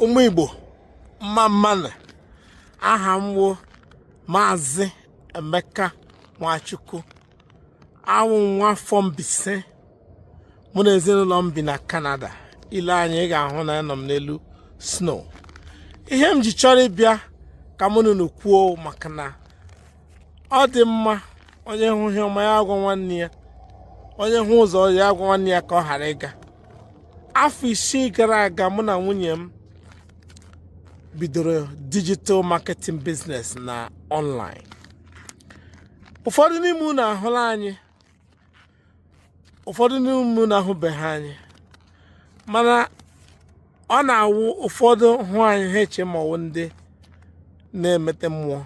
ụmụ igbo mma mma nụ aha m wụ maazị emeka nwachukwu awụ nwa afọ mbaise mụ na ezinụlọ m bi na kanada ile anya ị ga-ahụ na anọ m n'elu snow ihe m ji chọrọ ịbịa ka mụ na unu kwuo maka na ọ dị mma onye hụ ihe ọma ya agwa nwanne ya onye hụ ụzọ ya agwa nwanne ya ka ọ ghara ịga afọ isii gara aga mụ na nwunye m bidoro digital marketing business na online ụfọdụ n'ime unu ahụla anyị ụfọdụ n'ime unu ahụbeghị anyị mana ọ na-awụ ụfọdụ hụ anyị ha eche ma ọwụ ndị na-emete mmụọ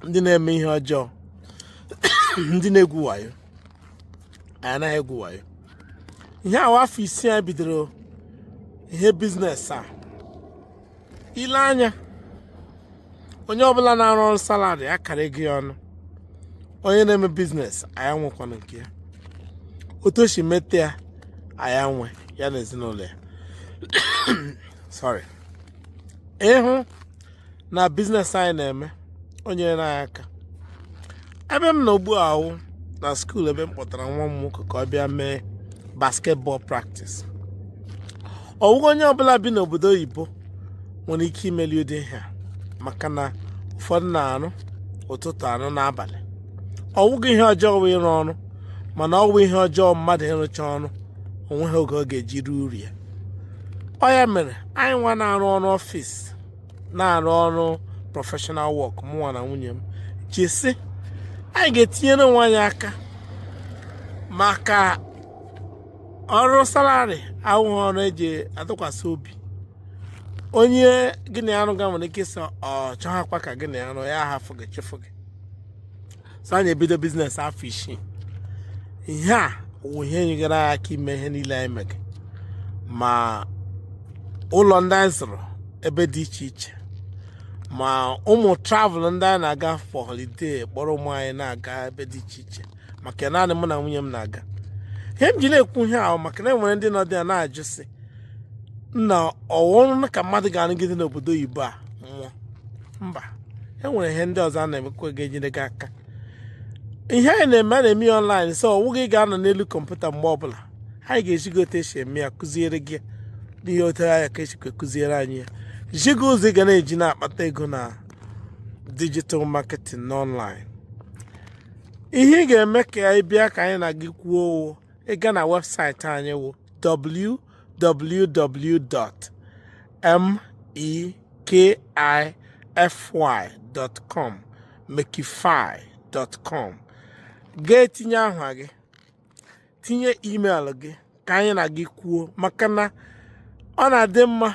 ndị na-eme ihe ọjọọ ndị na-egwu wayo anyị anaghị egwu wayo ihe a wụ afọ isii anyị bidoro ihe biznes a ile anya onye ọbụla na-arụ ọrụ salari akara ego ya ọnụ onye na-eme biznes ọ ya nwekwanụ nke ya otu o si mete ya ọ ya nwe ya na ezinụlọ ya so ịhụ na biznes anyị na-eme o nyere anyị aka ebe m nọ ugbu a wụ na skuul ebe m kpọtara nwa m nwoke ka ọ bịa mee basketball practice ọwụghị onye ọbụla bi n'obodo oyibo nwere ike imeli ụdị ihe a maka na ụfọdụ na-arụ ụtụtụ arụ n'abalị ọwụghị ihe ọjọọ wụ ịrụ ọrụ mana ọ wụ ihe ọjọọ mmadụ ịrụcha ọrụ onweghị oge ọ ga-eji rie uru ya ọ ya mere anyị nwa na-arụ ọrụ ọfịs na-arụ ọrụ professional work mụnwa na nwunye m ji sị anyị ga-etinyere onwe anyị aka maka ọrụ salari awụghị ọrụ eji atụkwasị obi onye gị na ya rụga nwere ike ịsị ọ chọghakwa ka gị na ya rụ ya ahafụ gị chụfụ gị so anyị ebido biznes afọ isii ihe a wụ ihe nyegara anyị aka ime ihe niile anyị mere ma ụlọ ndị anyị zụrụ ebe dị iche iche ma ụmụ travel ndị anyị na-aga for holiday kpọrọ ụmụ anyị na-aga ebe dị iche iche maka naanị mụ na nwunye m na-aga ihe m ji na-ekwu ihe a wụ maka na enwere ndị nọ dị ya na-ajụ sị na ọwụ ọrụ ka mmadụ ga-arụgide n'obodo oyibo a nwụọ mba e nwere ihe ndị ọzọ a na-emekwa ga-enyere gị aka ihe anyị na-eme a na-eme ya ọnlaịn so ọwụghị ị ga-anọ n'elu kọmputa mgbe ọbụla anyị ga-ezi gị otu esi eme ya kụziere gị n'ihe otu anya ka esikwe kụziere anyị ya zi gị ụzọ ị ga na-eji na-akpata ego na digital marketing n'ọnlaịn ihe ị ga-eme ka anyị bịa ka anyị na gị kwuo ị gaa na webụsaịtị anyị wụ www.mekify.com mekify.com gaa tinye aha gị tinye email gị ka anyị na gị kwuo maka na ọ na-adị mma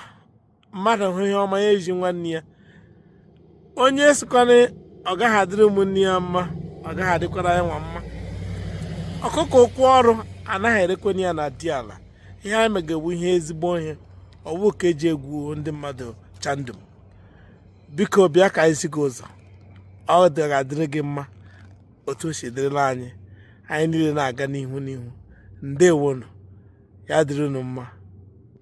mmadụ hụ ihe ọma ya ezi nwanne ya onye sịkwa na ọ gaghị adịrị ụmụnne ya mma ọ gaghị adịkwara ya nwa mma ọkụkọ ụkwụ ọrụ anaghị erekwanị ya na di ala ihe anyị mega wụ ihe ezigbo ihe ọ wụ ka eji egwu ndị mmadụ chandum biko bịa ka anyị zi gị ụzọ ọ ga-adịrị gị mma otu o si dịrịla anyị anyị niile na-aga n'ihu n'ihu ndewonu ya dịrị unu mma